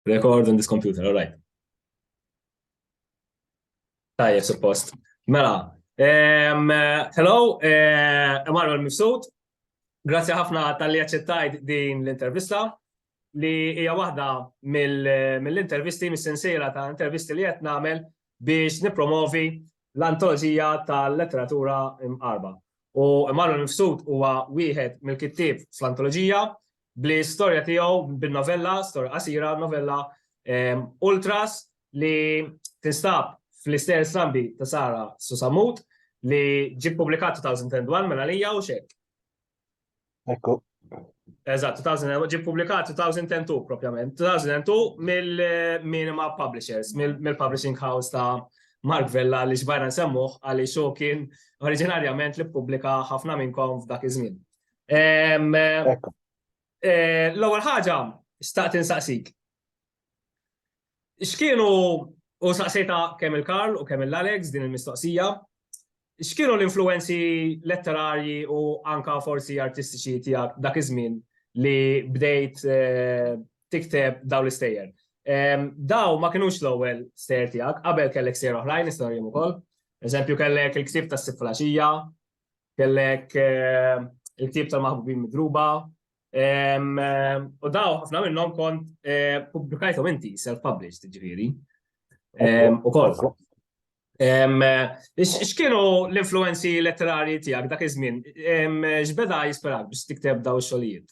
Record on this computer, all right. Tajja, suppost. Mela, um, hello, uh, eh, Emanuel Mifsud. Grazie ħafna tal-li għacċettajt din l-intervista li hija waħda mill-intervisti, mill mis-sensiela ta' intervisti li qed nagħmel biex nipromovi l-antoloġija tal-letteratura imqarba. U Emanuel Mifsud huwa wieħed mill-kittieb fl-antoloġija bl-istorja tiegħu bin-novella, storja qasira, novella Ultras li tinstab fl-istess sambi ta' Sara Susamut li ġi publikat 2001 mela lija u xek. Ekku. Eżatt, 2000 ġi publikat 2002 propjament. 2002 mill-Minima Publishers, mill-publishing house ta' Mark Vella li xbajna nsemmuh għaliex xo kien oriġinarjament li pubblika ħafna minnkom f'dak iż-żmien. Eh, l-ewwel ħaġa staqt insaqsik. X'kienu u saqsejta kemm il-Karl u kemm il-Alex din il-mistoqsija, x'kienu l-influenzi letterarji u anka forsi artistiċi tiegħek dak iż-żmien li bdejt eh, tikteb daw l-istejjer. Daw ma kienux l-ewwel stejjer tiegħek, qabel kellek stejjer oħrajn, istorjem ukoll. Eżempju kellek il-ktib tas-siflaxija, kellek il-ktieb tal-maħbubin midruba, u daw ħafna minnhom kont publikajthom inti self-published ġifieri. U kol. X'kienu l-influenzi letterari tiegħek dak iż-żmien? X'beda jisperak biex tikteb daw ix-xogħlijiet?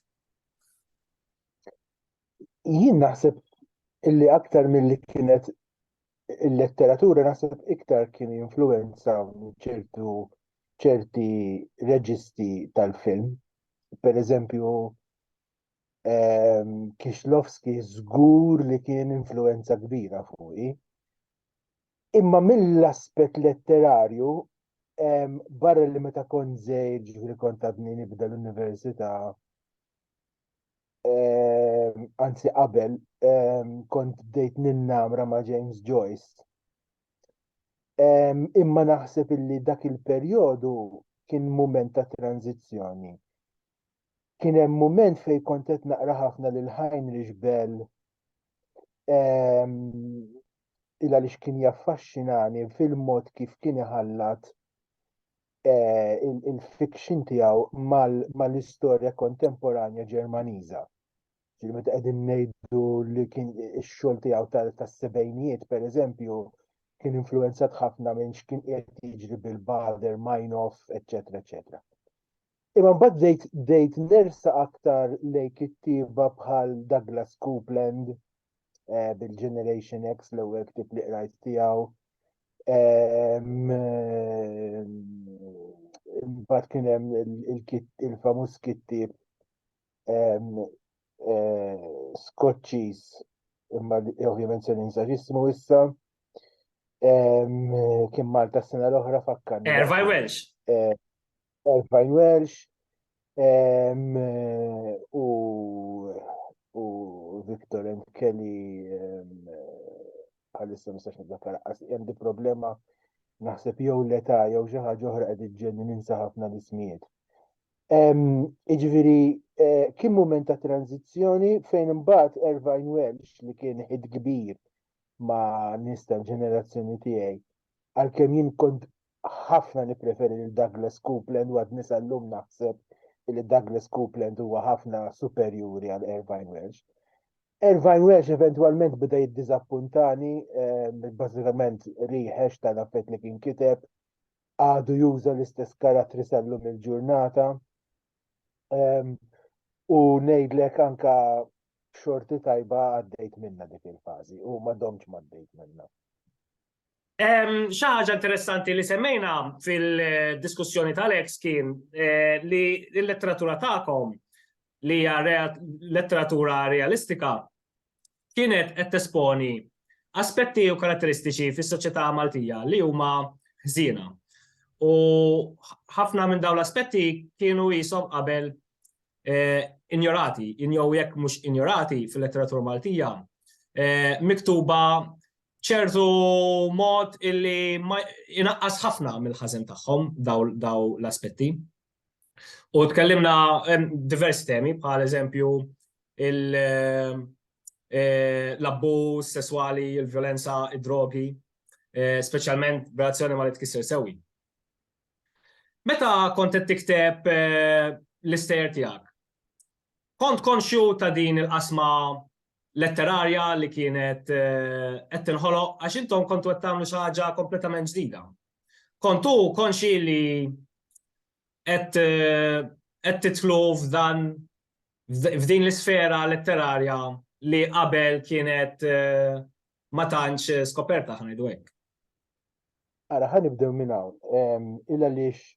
Jien naħseb illi aktar milli kienet il-letteratura naħseb iktar kien influenza ċertu ċerti reġisti tal-film. Per eżempju, ehm, Kixlovski żgur li kien influenza kbira fuqi. Imma mill-aspett letterarju, ehm, barra li meta kont żejġ li kont għadni nibda l-università, Ehm, anzi qabel, ehm, kont bdejt ninnamra ma' James Joyce. Ehm, imma naħseb illi dak il-perjodu kien mument ta' tranzizzjoni. Kien hemm mument fejn kont qed naqra ħafna lil Heinrich Bell il għaliex kien jaffaxxinani fil-mod kif kien iħallat il-fiction tiegħu mal-istorja kontemporanja Ġermaniża. Ġifieri meta qegħdin ngħidu li kien ix-xogħol tiegħu tas-sebgħinijiet pereżempju kien influenzat ħafna minn x'kien qed jiġri bil-Bader, Meinhof, eċetera, eċetera. Imma mbagħad dejt dejt nersa aktar lejk kittieba bħal Douglas Copeland, eh, bil-Generation X l-ewwel ktib li qrajt tiegħu. Ehm, ehm, imbagħad kien hemm il-famuż kittib ehm, eh, Skoċċiż imma ovvjament se ninsa ġismu issa. Kien Malta s-sena l-oħra fakkan. Ervaj Welsh. Eh, Erfajn Welsh u u Victor and Kelly bħalissa mistax niddakkar hemm di problema naħseb jew l-età jew xi ħaġa oħra qed iġġenni ninsa ħafna l-ismijiet. Iġifieri e, kien mument ta' tranzizzjoni fejn imbagħad Irvine Welsh li kien ħid kbir ma' nista ġenerazzjoni tiegħi għalkemm jien kont ħafna nippreferi lil Douglas Coupland u għadni sal-lum naħseb li Douglas Coupland huwa ħafna superjuri għal Irvine Welsh. Irvine Welsh eventwalment bida jiddiżappuntani, ehm, bażikament riħex tal-affett li kien kiteb, għadu juża l-istess karattri sal-lum il-ġurnata. Ehm, u ngħidlek anka xorti tajba għaddejt minna dik il-fażi u ma domx ma għaddejt minna. Xi ħaġa interessanti li semmejna fil-diskussjoni tal-eks kien eh, li l-letteratura tagħkom li hija letteratura realistika kienet qed tesponi aspetti u karatteristiċi fis-soċjetà Maltija li huma ħżiena. U ħafna minn dawn l-aspetti kienu jisom qabel eh, injorati, injow jekk mhux injorati fil-letteratura Maltija, eh, miktuba ċertu mod illi inaqqas ħafna mill-ħażen tagħhom daw l-aspetti. U tkellimna diversi temi, bħal eżempju eh, l-abbuż sesswali, il-violenza, id-drogi, eh, speċjalment b'reazzjoni ma li tkisser sewi. Meta kont qed tikteb eh, l-istejer tiegħek, Kont konxju ta' din il-qasma letterarja li kienet qed tinħoloq għax intom kontu qed tagħmlu xi ħaġa kompletament ġdida. Kontu konxji li qed qed tidħlu f'dan f'din l-isfera letterarja li qabel kienet eh, ma tantx eh, skoperta ħan ngħidu hekk. Ara ħa nibdew minn hawn. Illa lix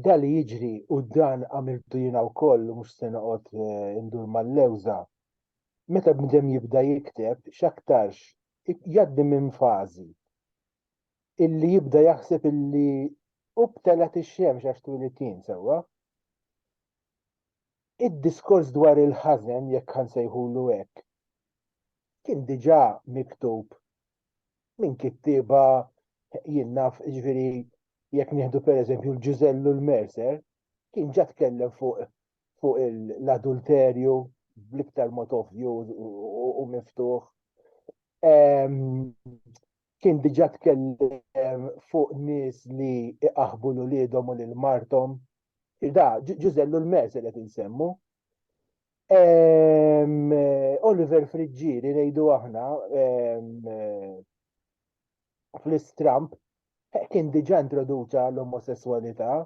Dan li jiġri u dan għamiltu jiena wkoll u mhux se noqgħod eh, indur mal-lewża. Meta bnedem jibda jikteb x'aktarx jgħaddi minn fażi illi jibda jaħseb illi u btelat ix-xemx għax twilid jien sewwa. Id-diskors dwar il-ħażen jekk ħansejħulu hekk kien diġà miktub minn kittieba jien naf ġviri jekk nieħdu per eżempju l-ġużellu l-merser, kien ġa tkellem fuq fuq l-adulterju bl-iktar mod ovvju u miftuħ. Kien diġa tkellem fuq nis li iqaħbu l-ulidom u l-martom. Da, ġużellu l-merser qed insemmu. Oliver Friggieri ngħidu aħna fl-istramp eh, kien diġà introduċa l-omosessualità.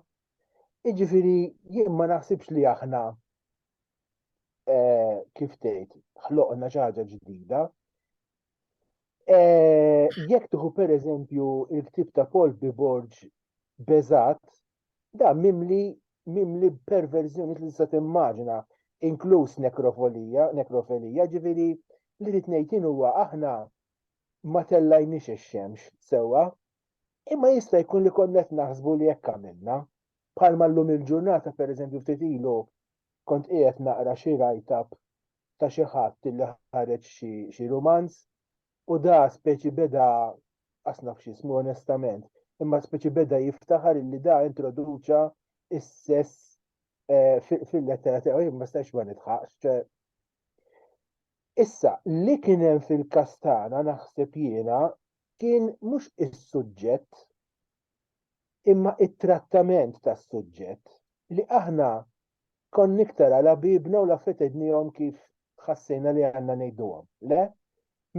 Iġifiri, jien ma naħsibx li aħna eh, kif tgħid, ħloqna xi ħaġa ġdida. Eh, jekk tieħu pereżempju il-ktib ta' Paul Biborg Bezat, Dan mimli mimli b'perverżjonijiet li tista' timmaġina, inkluż nekrofolija, nekrofelija, ġifieri li rrid ngħid jien huwa aħna ma tellajniex ix-xemx sewwa, imma jista' jkun li konna qed naħsbu li hekk għamilna. Bħalma llum il-ġurnata pereżempju ftit ilu kont qiegħed naqra xi write-up ta' xi ħadd li ħareġ xi xi rumanz U da speċi beda, qas naf x'ismu onestament, imma speċi beda jiftaħar illi da introduċa is-sess eh, fil-lettera tiegħu jien ma stax ma nidħaqx. Issa, li kien hemm fil-kastana naħseb jiena kien mhux is-suġġett imma it-trattament tas-suġġett li aħna Konna iktar għal ħbiebna u l-affarijiet għidniehom kif ħassejna li għandna ngħiduhom, le?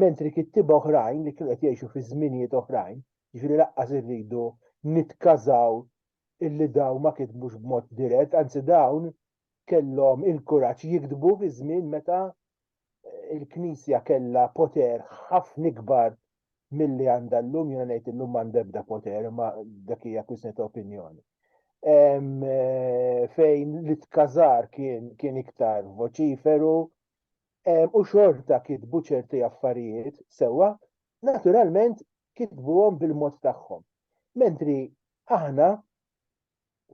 Mentri kittieba oħrajn li kienu qed jgħixu fi żminijiet oħrajn, jiġifieri lanqas irridu nitkażaw illi dawn ma kitbux b'mod dirett, anzi dawn kellhom il-kuraġġ jiktbu fi żmien meta l-Knisja kellha poter ħafna ikbar milli għandha llum, jiena ngħid illum m'għandha ebda poter, ma dak hija kwistjoni ta' opinjoni. Eh, fejn li tkazar kien, kien iktar voċiferu u xorta kitbu ċerti affarijiet sewa, naturalment kitbuhom bil-mod tagħhom. Mentri aħna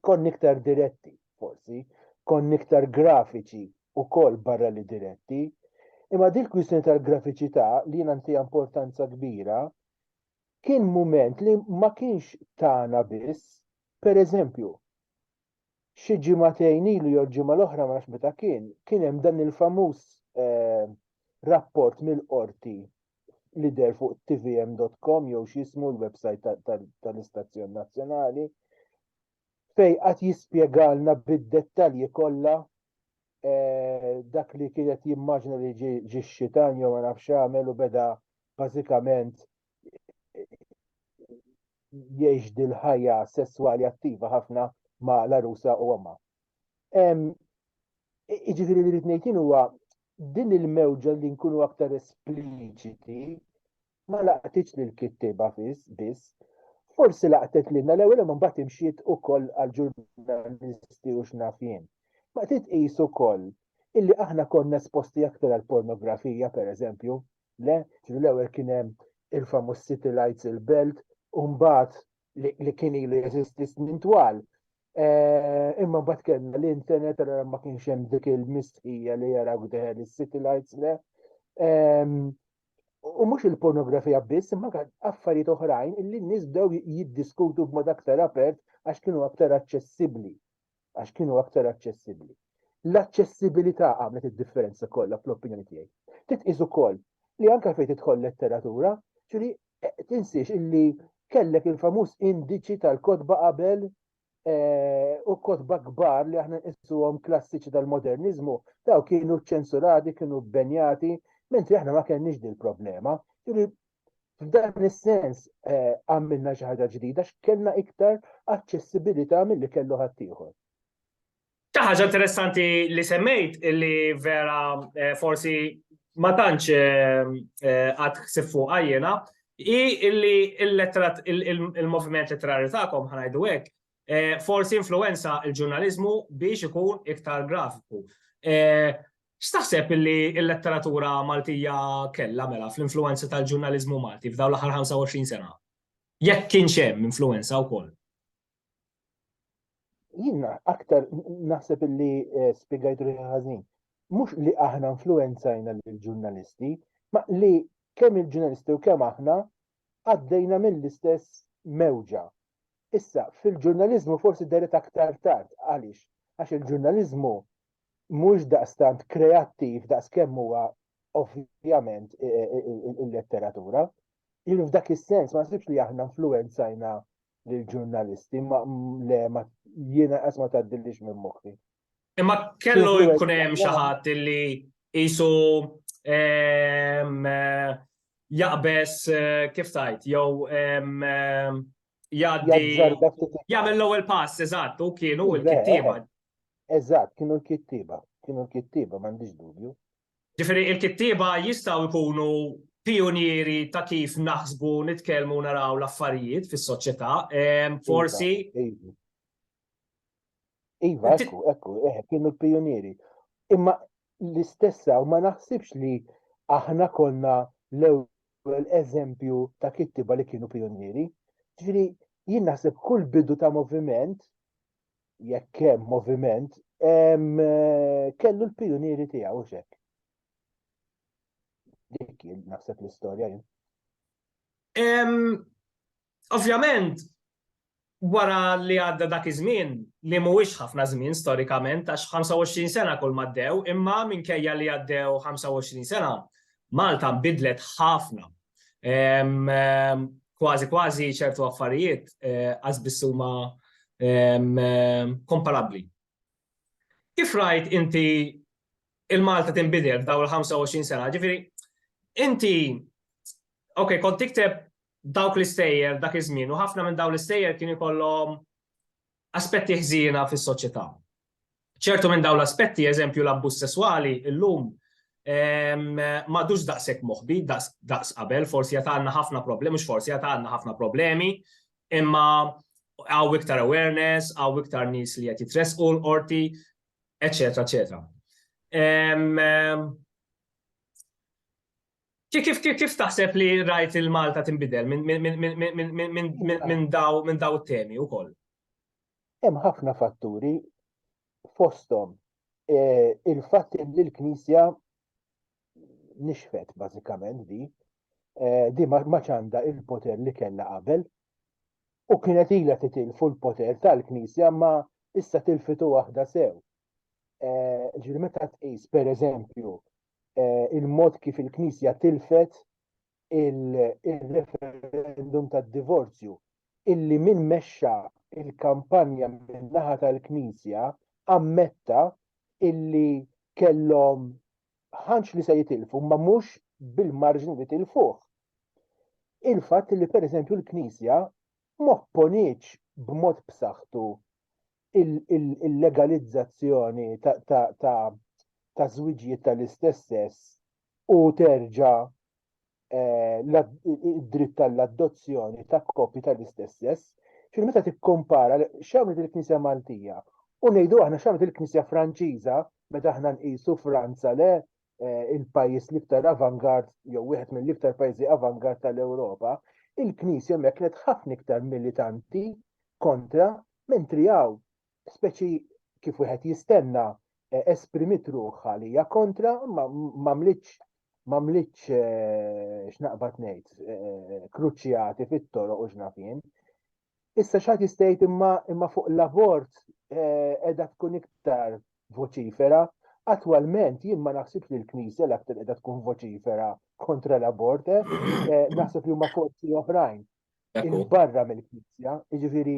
Konni iktar diretti, forsi, konni iktar grafiċi wkoll barra li diretti, imma din il-kwistjoni tal-grafiċità li jiena ntiha importanza kbira kien mument li ma kienx tagħna biss, pereżempju, xi ġimagħtejn ilu jew ġimgħa l-oħra ma nafx meta kien, kien hemm dan il-famuż eh, rapport mill-qorti li der fuq tvm.com jew x'jismu l-websajt tal-istazzjon nazzjonali fej qatt jispjegalna bid-dettalji kollha eh, dak li kienet jimmaġna li ġi xitan jew ma nafx għamel u beda bażikament jgħix dil-ħajja sesswali attiva ħafna ma' l-arusa u għamma. Iġifiri li rritnejtin huwa din il-mewġa li nkunu aktar espliċiti ma laqtitx lil kittiba fis biss. Forsi laqtet lilna l-ewwel ma mbagħad imxiet ukoll għal ġurnalisti u xnafien. Ma qed tqis ukoll illi aħna konna esposti aktar għal pornografija pereżempju, le, ġifieri l-ewwel kien hemm il-famuż City Lights il-Belt, u mbagħad li kien ilu jeżisti snin twal. Eh, imma bat kellna l-internet għara ma kienx hemm dik il-mistħija li jara għdeħel is-city lights le. U mhux il-pornografija biss, imma affarijiet oħrajn illi n-nies bdew jiddiskutu b'mod aktar apert għax kienu aktar aċċessibbli. għax kienu aktar aċċessibbli. L-aċċessibilità għamlet id-differenza kollha fl-opinjoni tiegħi. Titqis ukoll li anke fejn tidħol letteratura, ġifieri eh, tinsiex illi kellek il-famuż indiċi tal-kotba qabel eh, u kotba kbar li aħna nqisuhom klassiċi tal-moderniżmu, daw kienu ċensurati, kienu benjati, mentri aħna ma kenniex dil problema. Ġifieri F'dan is-sens eh, għamilna xi ħaġa ġdida x'kellna iktar aċċessibilità milli kellu ħaddieħor. Ta' ħaġa interessanti li semmejt li vera eh, forsi ma tantx eh, għad ħsib fuq għajjena, i illi il-moviment letterari tagħkom ħanajdu hekk, forsi influenza il-ġurnalizmu biex ikun iktar grafiku. X'taħseb li l-letteratura Maltija kellha mela fl-influwenza tal-ġurnaliżmu Malti f'dawn l-aħħar 25 sena? Jekk kienx hemm influwenza wkoll? Jien aktar naħseb li eh, spjegajt ruħi ħażin. Mhux li aħna influwenzajna lill-ġurnalisti, ma li kemm il-ġurnalisti u kemm aħna għaddejna mill-istess mewġa. Issa, fil-ġurnalizmu forsi deret aktar tard, għaliex? Għax il-ġurnalizmu mhux daqstant kreattiv daqskemm huwa ovvjament il-letteratura. Jien f'dak is-sens ma nasibx li aħna influenzajna lill-ġurnalisti ma le ma jiena qas ma tgħaddilix minn moħħi. Imma kellu jkun hemm xi ħadd li qisu jaqbeż kif tgħid jew jgħaddi jagħmel l-ewwel pass eżatt u kienu l-kittieba. Eżatt, kienu l-kittieba, kienu l-kittieba m'għandix dubju. Ġifieri il-kittieba jistgħu jkunu pionieri ta' kif naħsbu nitkellmu naraw l-affarijiet fis-soċjetà, forsi Iva, ekku, ekku, eħe, eh, kienu l-pionieri. Imma l-istessa, u ma naħsibx li aħna konna l-ewwel eżempju ta' kittiba li kienu pionieri. Ġifieri, jien naħseb kull bidu ta' moviment, jekk hemm moviment, eh, kellu l-pionieri tiegħu xek. Dik jien naħseb l-istorja jien. Ovvjament, wara li għadda dak iż-żmien, li mhuwiex ħafna żmien storikament għax 25 sena kull ma għaddew, imma minkejja li għaddew 25 sena, Malta nbidlet ħafna. Kważi kważi ċertu affarijiet eh, qas biss huma komparabbli. Kif rajt inti il-Malta tinbidel f'daw il-25 sena, ġifieri inti, ok, kont tikteb dawk l-istejjer dak iż-żmien u ħafna minn dawn l-istejjer kien ikollhom aspetti ħżiena fis-soċjetà. Ċertu minn dawn l-aspetti, eżempju l-abbuż sesswali, illum m'għadux daqshekk moħbi, daqs qabel, forsi għad għandna ħafna problemi, mhux forsi għad għandna ħafna problemi, imma għaw iktar awareness, għaw iktar nies li qed jitressqu l-qorti, eċetera, eċetera. Kif taħseb li rajt il-Malta tinbidel minn daw it-temi wkoll? Hemm ħafna fatturi fosthom il-fatt li l-Knisja nixfet bażikament di, di ma ċanda il-poter li kellha qabel u kienet ilha titilfu l-poter tal-Knisja ma issa tilfitu waħda sew. Ġifieri meta tqis pereżempju eh, il-mod kif il-Knisja tilfet il-referendum tad-divorzju illi min mexxa il-kampanja min-naħa tal-Knisja ammetta illi kellhom ħanċ li se jitilfu ma mhux bil-marġni li tilfuh. Il-fatt li pereżempju l-Knisja mopponiċ b'mod b'saħħtu il-legalizzazzjoni ta' żwiġijiet tal-istess sess u terġa' id-dritt għall-adozzjoni ta' koppji tal-istess sess, ġifieri meta tikkumpara x'għamlet il-Knisja Maltija u ngħidu aħna x'għamlet il-Knisja Franċiża meta aħna nqisu Franza le, eh, il-pajjiż l-iktar avangard jew wieħed mill-iktar pajjiżi avangard tal-Ewropa, il-Knisja hemmhekk kienet ħafna iktar militanti kontra mentri hawn speċi kif wieħed jistenna eh, esprimit ruħha li hija kontra ma mlitx ma mlitx eh, x'naqbad ngħid kruċjati fit-toroq u x'nafin. Issa xaħt jistajt imma imma fuq l-abort eh, edha tkun iktar voċifera. Attualment jien ma naħsibx li l-Knisja l-aktar edha tkun voċifera kontra l-abort, eh, eh, naħseb li huma forzi oħrajn il-barra mill-Knisja, jiġifieri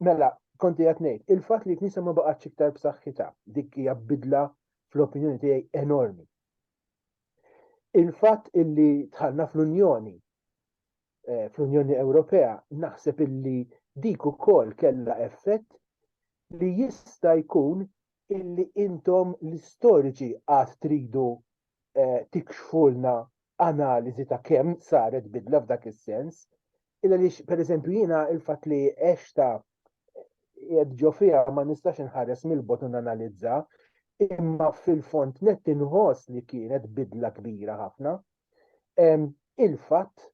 mela konti qed ngħid, il-fatt li l-Knisja ma baqgħatx iktar b'saħħitha, dik hija bidla fl-opinjoni tiegħi enormi. Il-fatt illi tħallna fl-Unjoni eh, fl-Unjoni Ewropea, naħseb illi dik ukoll kellha effett li jista' jkun illi intom l-istoriċi għad tridu eh, tikxfulna analiżi ta' kemm saret bidla f'dak is-sens. Illa li per eżempju jiena il-fatt li għexta jed ġo fija ma nistax inħares mill-bot analizza, imma fil-font net inħoss li kienet bidla kbira ħafna. il-fatt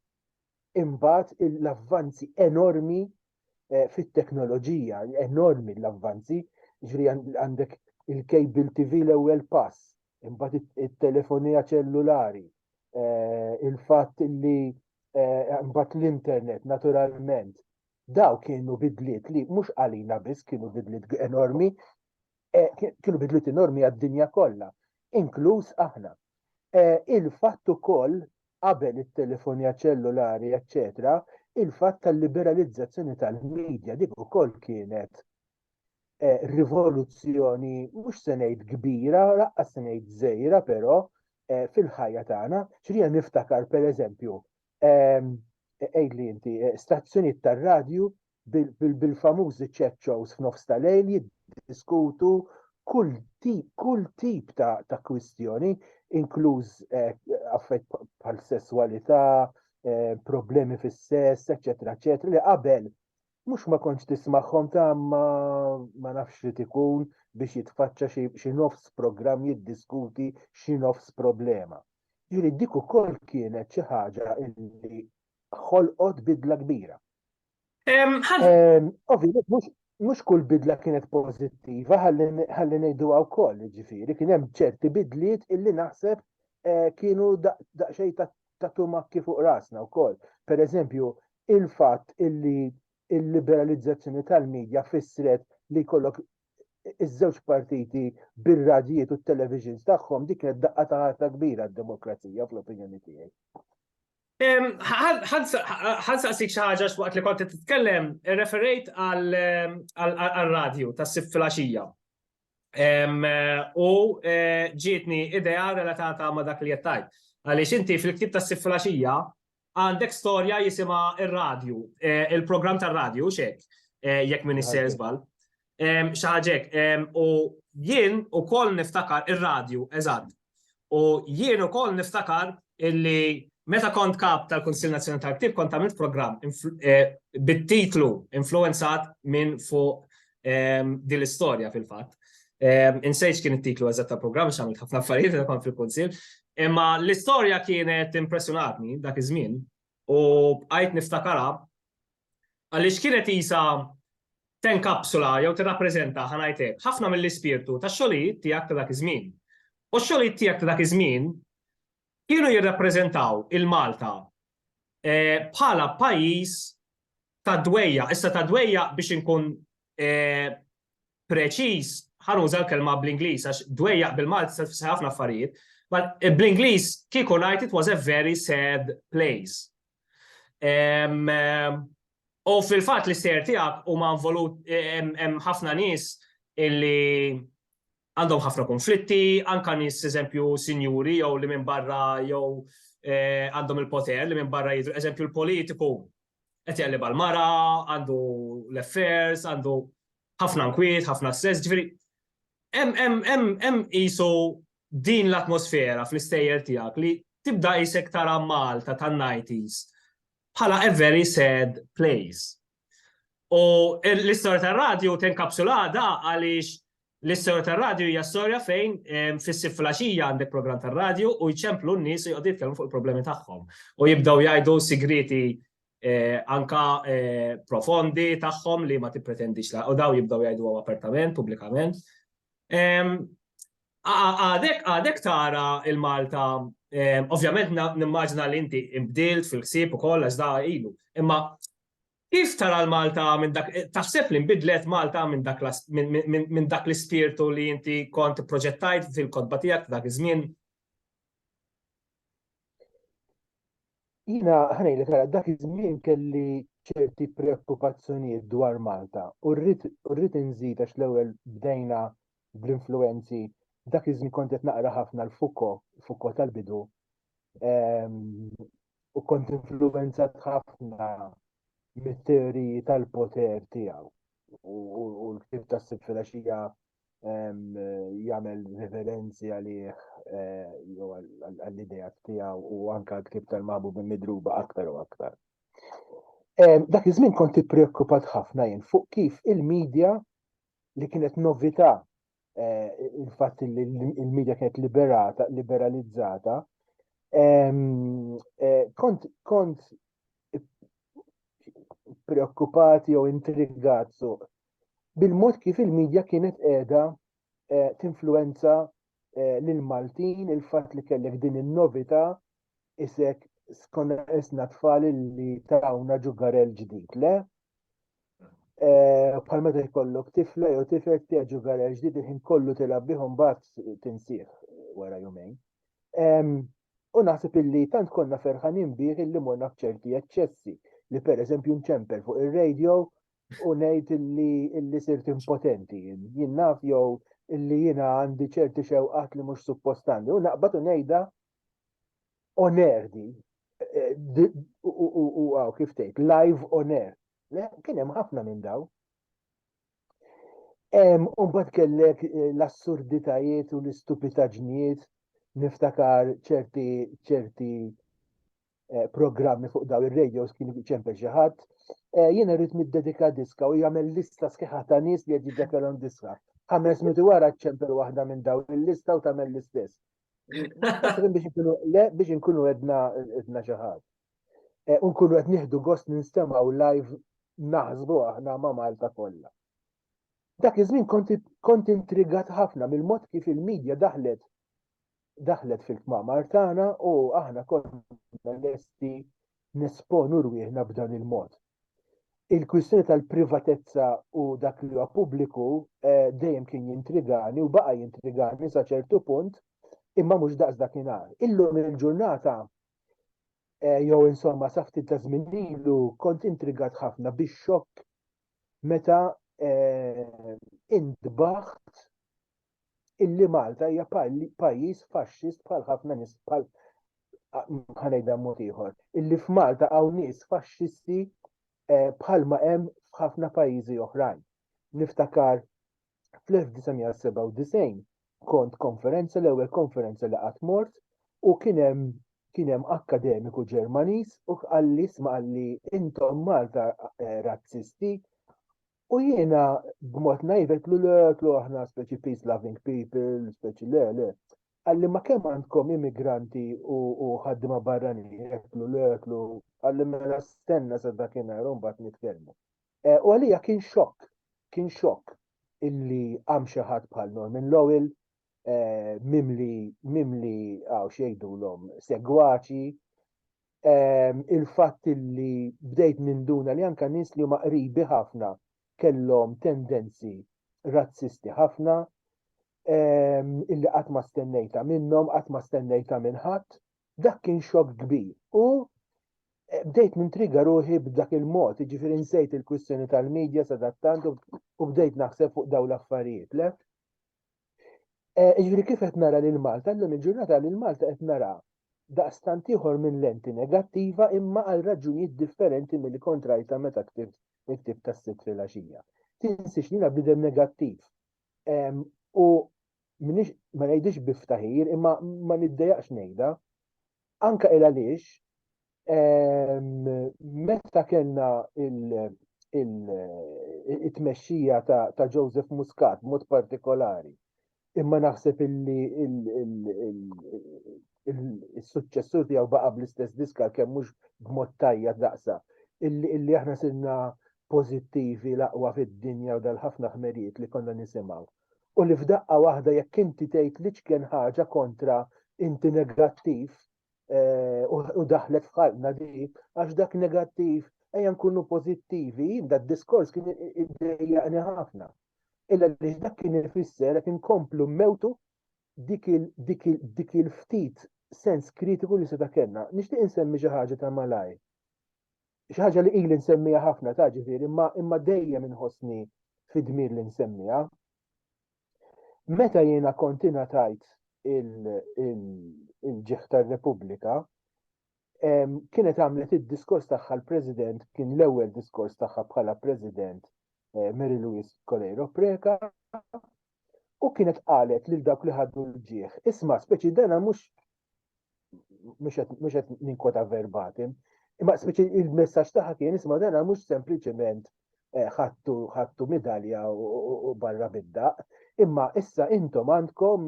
imbagħad l-avvanzi enormi eh, fit-teknoloġija, enormi l-avvanzi, ġri għandek il-cable TV l-ewwel pass, imbagħad it-telefonija ċellulari, eh, il-fatt li eh, imbagħad l-internet naturalment. Daw kienu bidliet li mhux għalina biss kienu bidliet enormi, eh, kienu bidlu normi għad-dinja kollha, inkluż aħna. Eh, il-fatt ukoll qabel it-telefonja ċellulari, eċċetera, il-fatt tal-liberalizzazzjoni tal-medja dik ukoll kienet eh, rivoluzzjoni mhux se ngħid kbira, laqqa se ngħid żejra però eh, fil-ħajja tagħna, xrija niftakar pereżempju ehm, għidli inti eh, stazzjonijiet tar-radju bil-famużi chat shows f'nofs ta' lejl jiddiskutu kull tip, kull tip ta', ta kwistjoni, inkluż eh, affett bħal sesswalità, eh, problemi fis-sess, eċetera, eċetera, li qabel mhux ma kontx tismagħhom ta' ma, ma nafx li tikun biex jitfaċċa xi nofs programm jiddiskuti xi nofs problema. Ġiri dik ukoll kienet xi ħaġa li ħolqot bidla kbira. Ovvijament, mhux kull bidla kienet pożittiva, ħalli ngħidu wkoll, ġifieri, kien hemm ċerti bidliet illi naħseb eh, kienu daqsxejn ta' tumakki fuq rasna wkoll. Per eżempju, il-fatt illi il-liberalizzazzjoni tal-medja fissret li kollok iż-żewġ partiti bir-radjiet u t-televisions tagħhom dik kienet daqqa ta' ħarta kbira d-demokrazija fl-opinjoni tiegħi. Ħansaqsik xi ħaġa x'waqt li kont titkellem, referejt għal-radju tas-sib fil-għaxija. U eh, ġietni idea relatata ma' dak li jettajt. Għaliex inti fil-ktib tas-sib fil-għaxija għandek storja jisima il-radju, eh, il-program tal-radju, xek, eh, jekk minn isser zbal. Xaġek, u jien u koll niftakar il-radju, eżad. U jien u koll niftakar illi meta kont kap tal-Konsil Nazjonal tal-Ktib kont għamilt program eh, bit-titlu influenzat minn fuq din l-istorja fil-fat. Insejċ kien it-titlu eżat tal-program, xamilt ħafna affarijiet li kont fil-Konsil. Imma l-istorja kienet impressionatni dak iż-żmien u bqajt niftakara Għaliex kienet qisha tenkapsula jew tirrappreżenta, ħa ngħid hekk, ħafna mill-ispirtu tax-xogħlijiet tiegħek ta' dak iż-żmien. U x-xogħlijiet tiegħek ta' dak iż-żmien kienu jirrappreżentaw il-Malta bħala pajjiż tad-dwejjaq, issa tad-dwejjaq biex inkun preċiż, ħa nuża l-kelma bl-Ingliż għax dwejjaq bil-Malti tista' tfisser ħafna affarijiet, bl-Ingliż kieku ngħid it was a very sad place. U fil-fatt l-istejjer tiegħek huma involut hemm ħafna nies illi għandhom ħafna konflitti, anke nies eżempju sinjuri jew li minn barra jew eh, għandhom il-poter li minn barra jidru eżempju l-politiku qed jaqlib għal mara, għandu l-affairs, għandu ħafna nkwiet, ħafna stress, ġifieri hemm qisu din l-atmosfera fl-istejjer tiegħek li tibda isek tara Malta tan-90s bħala a very sad place. U l-istorja tar-radju tenkapsulada għaliex l-istorja tar-radju hija storja fejn fis-sif flaxija għandek programm tar-radju u jċemplu n-nies u jqogħdu jitkellmu fuq il-problemi tagħhom. U jibdew jgħidu sigriti anka profondi tagħhom li ma tippretendix u daw jibdew jgħidu apertament, pubblikament. Għadek, għadek tara il-Malta, ovvjament nimmaġna li inti imbdilt fil-ħsieb u koll għax da ilu, imma kif tara l-Malta minn dak, taħseb li nbidlet Malta minn dak minn dak l-ispirtu li inti kont proġettajt fil-kodba tiegħek dak iż-żmien? Jiena ħanejlek għal dak iż-żmien kelli ċerti preokkupazzjonijiet dwar Malta u rrid inżid għax l-ewwel bdejna bl-influwenzi dak iż-żmien kont qed naqra ħafna l-Fuko, Fuko tal-bidu, ehm, u kont influwenzat ħafna mit-teoriji tal-poter tiegħu u l-ktib tas-sitt filgħaxija jagħmel referenzi għalih eh, jew għall-idea tiegħu u anke l-ktieb tal-maħbub midruba aktar u aktar. Dak iż-żmien kont ippreokkupat ħafna jien fuq kif il-medja li kienet novità eh, il-fatt li l-medja kienet liberata, liberalizzata, eh, kont kont preokkupati jew intrigat bil-mod kif il-midja kienet qiegħda eh, tinfluwenza eh, lil Maltin, il-fatt li kellek din in-novità isek skonna isna tfal li tawna ġugarel ġdid, le? Eh, bħal meta jkollok tifla jew tifel tiegħek ġugarel ġdid il-ħin kollu tilgħab bihom bat tinsih wara jumejn. U naħseb illi tant konna ferħanin bih illi morna f'ċerti eċċessi li pereżempju nċempel fuq ir-radio u ngħid illi illi sirt impotenti jien. Jien naf jew illi jiena għandi ċerti xewqat li mhux suppost għandi. U naqbad u ngħidha onerdi eh, u għaw kif tgħid live on air. Kien hemm ħafna minn daw. Umbat kellek eh, l-assurditajiet u l-istupitaġnijiet niftakar ċerti ċerti eh, programmi fuq daw ir-radios kien ċempel xi ħadd. Eh, jiena rrid niddedika diska u jagħmel lista sħiħa ta' nies li qed jiddekalhom diska. Ħames minuti wara ċempel waħda minn daw il-lista u tagħmel l-istess. biex inkunu edna edna xi ħadd. Eh, unkunu qed nieħdu gost ninstemaw live naħsbu aħna ma' Malta kollha. Dak iż-żmien kont intrigat ħafna mill-mod kif il-medja daħlet daħlet fil-kmamar tagħna u aħna konna lesti nesponu rwieħna b'dan il-mod. Il-kwistjoni tal-privatezza u dak li huwa pubbliku eh, dejjem kien jintrigani u baqa' jintrigani sa ċertu punt imma mhux daqs dakinhar. Illum il-ġurnata eh, jew insomma sa ftit ta' żmien ilu kont intrigat ħafna biex xokk meta eh, intbaħt illi Malta hija pajjiż faxxist bħal ħafna nies bħal ħanejda mod ieħor, illi f'Malta hawn nies faxxisti eh, bħalma hemm f'ħafna pajjiżi oħrajn. Niftakar fl-1997 kont konferenza l-ewwel konferenza li qatt mort u kien hemm kien hemm akkademiku Ġermaniż u qalli sma qalli intom Malta eh, razzisti U jiena b'mod najvet lu le tlu aħna speċi peace loving people, speċi le le. Għalli ma kemm għandkom immigranti u ħaddima barrani, tlu le tlu, għalli mela stenna sa dakinhar u mbagħad nitkellmu. Eh, u għalija kien xokk, kien xokk illi għam xi ħadd bħal Norman Lowell eh, mimli mimli għaw xejdulhom segwaċi ehm, il-fatt li bdejt ninduna li anka nies li huma qribi ħafna kellhom tendenzi razzisti ħafna ehm, illi qatt ma stennejta minnhom, qatt ma stennejta minn ħadd, dak kien xokk kbir. U eh, bdejt nintriga ruħi b'dak il-mod, ġifiri nsejt il-kwistjoni tal-medja sadattant u bdejt naħseb fuq daw l-affarijiet, le? Eh, jiġifieri kif qed nara lil Malta, llum il-ġurnata lil Malta qed nara daqstant ieħor minn lenti negattiva imma għal raġunijiet differenti milli kont rajta meta ktibt il-ktieb tas-sitt filgħaxija. Tinsiex li jiena bniedem negattiv. U minix ma ngħidix biftaħir imma ma niddejaqx ngħidha. Anka il għaliex Meta kellna il-tmexxija ta' Joseph Muscat mod partikolari, imma naħseb illi il-suċċessur tiegħu baqa' bl-istess diska kemm mhux b'mod tajja daqsa, illi aħna sirna pożittivi l-aqwa fid-dinja u dal-ħafna ħmerijiet li konna nisimgħu. U li f'daqqa waħda jekk inti tgħid l-iċken ħaġa kontra inti negattiv eh, u daħlet f'ħalna dik, għax dak negattiv, ejja nkunu pozittivi, dak diskors kien id-dejjaqni ħafna. Illa li dak kien ifisser qed inkomplu mewtu dik il-ftit sens kritiku li seta' kellna. Nixtieq insemmi xi ħaġa ta' malaj. Xi ħaġa li ili nsemmija ħafna ta' ġifieri, imma dejjem inħossni fid-dmir li nsemmiha. Meta jiena kont ingħatajt il-ġieħ tar-Repubblika, kienet għamlet id-diskors tagħha l-President, kien l-ewwel diskors tagħha bħala President eh, Mary Louise Coleiro Preca, u kienet qalet lil dawk li ħaddu l-ġieħ, isma' speċi dana mhux mhux qed ninkota verbatim, imma speċi il-messaġġ tagħha kien isma' dena mhux sempliċement eh, ħattu ħattu midalja u barra bid-daq, imma issa intom għandkom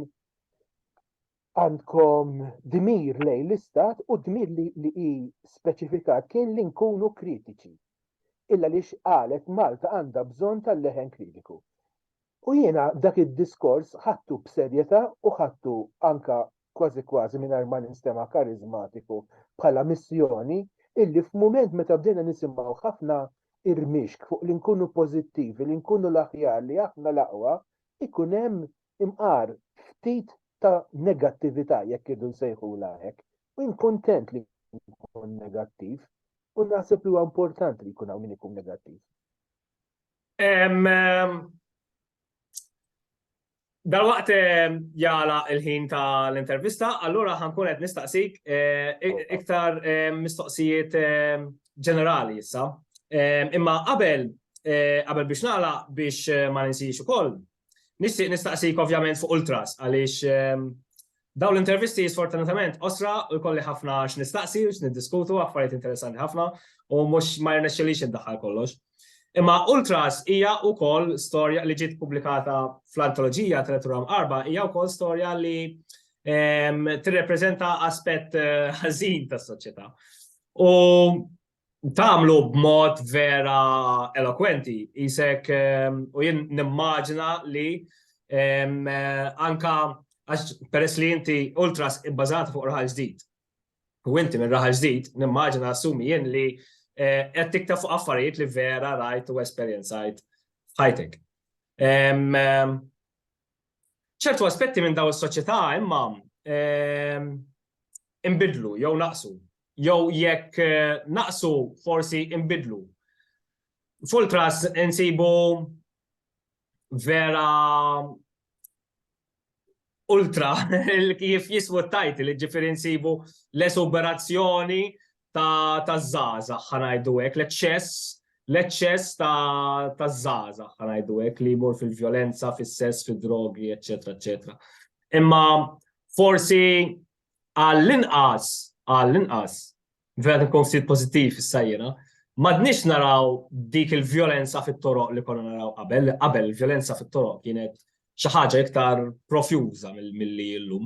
għandkom dmir lejn l-istat u dmir li hi speċifikat kien li nkunu kritiċi. Illa li qalet Malta għandha bżonn tal-leħen kritiku. U jiena dak id-diskors ħadtu b'serjetà u ħadtu anke kważi kważi mingħajr ma ninstema' kariżmatiku bħala missjoni illi f'mument meta bdejna nisimgħu ħafna irmixk fuq li nkunu pożittivi, li nkunu l-aħjar, li aħna l-aqwa, ikun hemm imqar ftit ta' negattività jekk irridu nsejħulha hekk. U jien kuntent li nkun negattiv u naħseb li huwa importanti li jkun hawn min ikun negattiv. Dalwaqt jala il-ħin ta' l-intervista, allura ħankun qed nistaqsik iktar mistoqsijiet ġenerali issa. Imma qabel qabel biex nagħlaq biex ma ninsiex ukoll, Nixtieq nistaqsik ovvjament fuq Ultras għaliex ehm, dawn l-intervisti sfortunatament osra u jkolli ħafna x'nistaqsi u x'niddiskutu affarijiet interessanti ħafna u mhux ma jirnexxilix indaħħal kollox. Imma Ultras hija wkoll storja li ġiet pubblikata fl-antoloġija tal-Turam Arba hija wkoll storja li ehm, tirrepreżenta aspett eh, ħażin tas-soċjetà. U Tagħmlu b'mod vera elokwenti, qisek u jien nimmaġina li anka għax peress li inti ultras ibbażata fuq raħal ġdid. U inti minn raħal ġdid, nimmaġina assumi jien li qed tikteb fuq affarijiet li vera rajt u esperjenzajt f'ħajtek. Ċertu aspetti minn dawn is-soċjetà imma inbidlu jew naqsu, jew jekk naqsu forsi inbidlu. Fultras insibu vera ultra kif jismu t-tajt li ġifieri nsibu l-esuberazzjoni taż-żgħażagħ ħa ngħidu hekk, l-eċċess l-eċċess taż-żgħażagħ ħa ngħidu hekk li jmur fil-vjolenza, fis-sess, fid-drogi, eċetera, eċetera. Imma forsi għall-inqas għall-inqas vera nkun ftit pożittiv issa jiena, madniex naraw dik il-vjolenza fit-toroq li konna naraw qabel, qabel il-vjolenza fit-toroq kienet xi ħaġa iktar profjuża milli illum.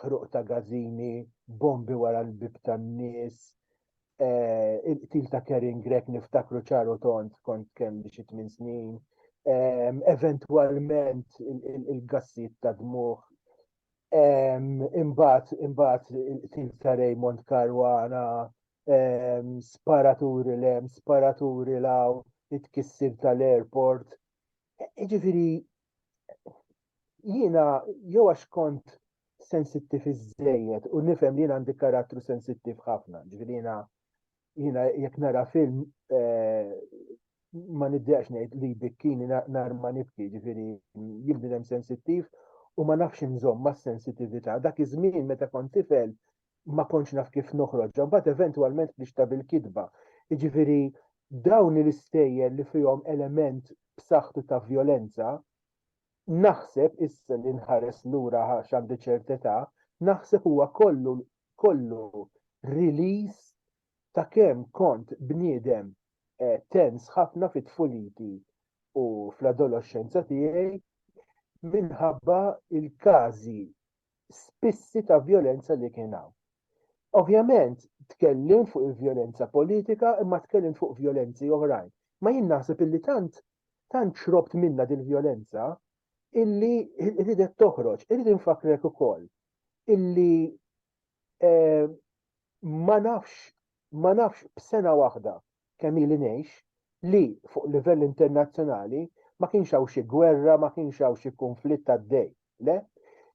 ħruq ta' gażini, bombi wara l-bib tan-nies, eh, il-qtil ta' Karen Grek niftakru ċaru tont kont kemm xi tmien snin, eh, eventwalment il-gassijiet ta' dmuħ, eh, imbagħad imbagħad il-qtil ta' Raymond Caruana, sparaturi lem, sparaturi law, it-kissir tal-airport. Ġifiri, jiena jew għax kont sensittiv iżejjed u nifhem li jiena għandi karattru sensittiv ħafna, ġifieri jiena jiena jekk nara film eh, ma niddeqx ngħid li bikkini nar ma nibki, ġifieri jien sensittiv u ma nafx inżomm ma' sensitività. Dak iż-żmien meta kont tifel ma kontx naf kif noħroġha, mbagħad eventwalment ħriġtha bil-kitba. Jiġifieri dawn l-istejjer li fihom element b'saħħtu ta' vjolenza, naħseb issa li nħares lura għax għandi ċert età, naħseb huwa kollu kollu release ta' kemm kont bniedem eh, tens ħafna fit-tfuliti u fl-adolescenza tiegħi minħabba il-każi spissi ta' vjolenza li kien hawn. Ovvjament tkellimt fuq il-vjolenza politika imma tkellimt fuq vjolenzi oħrajn. Ma jien naħseb illi tant tant xrobt minna dil-vjolenza illi ridet toħroġ. Irrid infakrek ukoll illi eh, Ma nafx, ma nafx b'sena waħda kemm ili ngħix, li fuq livell internazzjonali ma kienx hawn xi gwerra, ma kienx hawn xi kunflitt għaddej. Le.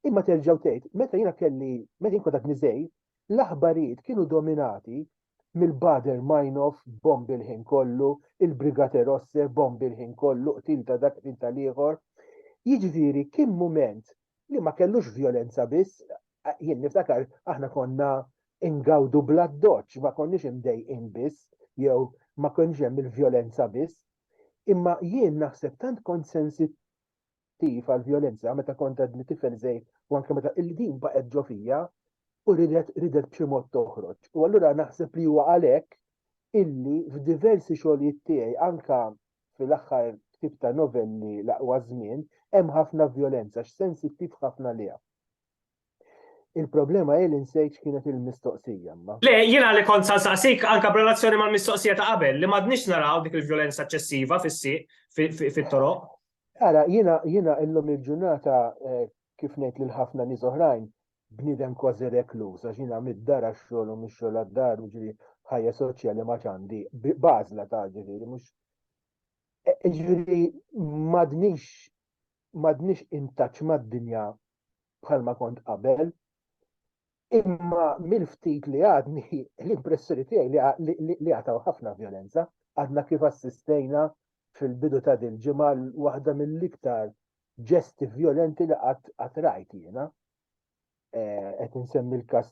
Imma terġa' tgħid, meta jiena kelli, meta jien kont għadni żgħir, l-aħbarijiet kienu dominati mill-Baader-Meinhof, bombi l-ħin kollu, il-Brigate Rosse, bombi l-ħin kollu, qtil ta' dak, qtil tal-ieħor. Jiġifieri kien mument li ma kellux violenza biss, jien niftakar aħna konna ingawdu bla doċ, ma konniex imdejqin biss, jew ma konniex hemm il-violenza biss. Imma jien naħseb tant kont sensittiv għal violenza meta kont għadni tifel żejt u anke meta il-din baqgħet ġo fija u ridet ridet b'xi mod toħroġ. U allura naħseb li huwa għalhekk illi f'diversi xogħlijiet tiegħi anka fil-aħħar ktib ta' novelli l-aqwa żmien, hemm ħafna vjolenza x'sensittiv ħafna liha. Il-problema hi li nsejt x'kienet il-mistoqsija ma. Le, jiena li kont sa nsaqsik anke b'relazzjoni mal-mistoqsija ta' qabel li m'għadniex naraw dik il-vjolenza eċċessiva fis-sieq fit-toroq. Ara, jiena jiena illum il-ġurnata eh, Kif ngħid lil ħafna nies oħrajn, bniedem kważi rekluż għax jiena mid-dar għax-xogħol u mix-xogħol għad-dar, jiġifieri ħajja soċjali ma għadx għandi, b'għażla ta' ġifieri mhux Jiġifieri m'għadnix m'għadnix in touch mad-dinja bħalma kont qabel, imma mill-ftit li għadni l-impressjoni tiegħi li għataw ħafna vjolenza, għadna kif assistejna fil-bidu ta' dil-ġimgħa waħda mill-iktar ġesti vjolenti li qatt rajt jiena. Eh, qed insemmi l-każ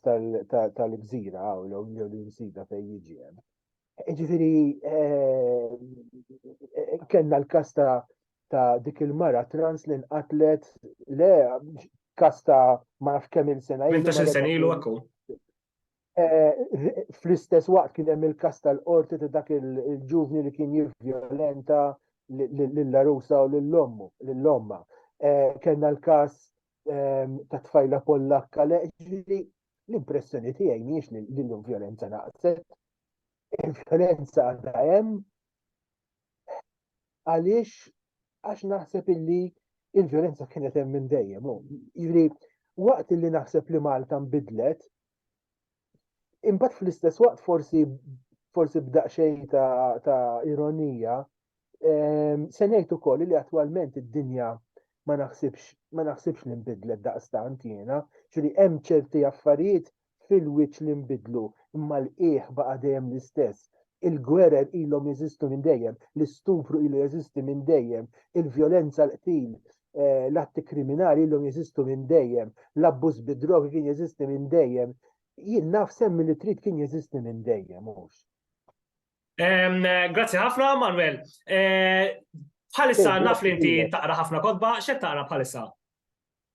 tal-gżira hawn jew l-insida fejn jiġi hemm. Ġifieri eh, eh, kellna l-każ ta' dik il-mara trans li nqatlet le każ ta' ma nafx kemm il-sena. 18 sena ilu eh, fl-istess waqt kien hemm il-kas tal-qorti ta' dak il-ġuvni li kien jivviolenta lill-arusa u lill-ommu, lill-omma. Eh, kellna l-kas ehm, ta' tfajla pollakka li l-impressjoni tiegħi mhijiex li l-violenza naqset. Il-violenza għadha hemm Għaliex għax naħseb illi il-violenza kienet hemm minn dejjem. Jiġri waqt illi naħseb li Malta nbidlet, imbagħad fl-istess waqt forsi forsi b'daqxej ta', ta ironija, ehm, se ngħid ukoll li attwalment id-dinja ma naħsibx ma naħsibx li nbidlet daqstant jiena, ġri hemm ċerti affarijiet fil-wiċċ li nbidlu, imma l-qiegħ baqa' dejjem l-istess. Il-gwerer ilhom jeżistu minn dejjem, l-istupru ilu jeżisti minn dejjem, il-vjolenza, l-qtil, l-atti kriminali ilhom jeżistu minn dejjem, l-abbuż bid-drogi kien jeżisti minn dejjem. Jien naf semmi li trid kien jeżisti minn dejjem, mhux? Grazzi ħafna, Manuel. Bħalissa naf li inti taqra ħafna kodba, x'qed taqra bħalissa?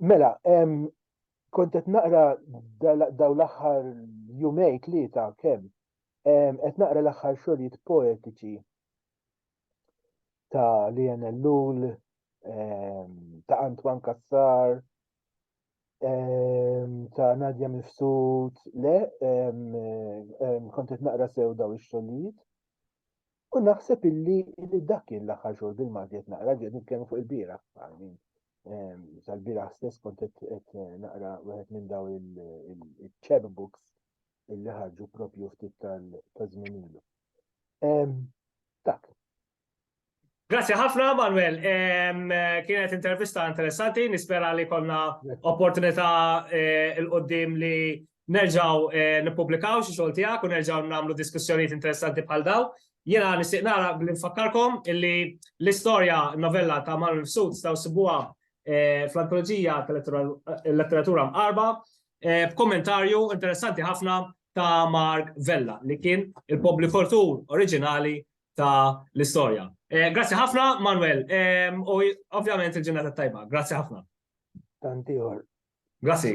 Mela, kont qed naqra daw l-aħħar jumej tlieta kemm qed naqra l-aħħar xogħlijiet poetiċi ta' Lian Ellul, ta' Antoine Kassar, ta' Nadja Mifsud, le, kont qed naqra sew daw ix-xogħlijiet. U naħseb illi illi dak kien l-aħħar xogħol bil-Malti qed naqra qed nitkellmu fuq il-bira għalmin. Ehm, Sal-bira stess kont qed naqra wieħed minn daw il-chap books illi ħarġu propju ftit tal-żmien ilu. Ehm, dak, Grazie ħafna, Manuel. Kienet intervista interessanti, nispera li konna opportunità eh, il-qoddim li nerġgħu eh, nippubblikaw xi xogħol tiegħek u nerġgħu nagħmlu diskussjonijiet interessanti bħal daw. Jiena nixtieq nara billi nfakkarkom illi l-istorja novella ta' Manuel Fsud staw sibuha eh, fl-antoloġija tal-letteratura eh, mqarba b'kommentarju interessanti ħafna ta' Mark Vella li kien il-publikatur oriġinali ta' l-istorja. Grazzi ħafna, Manuel, u ovvjament il-ġurnata tajba. Grazzi ħafna. tant ieħor. Grazzi.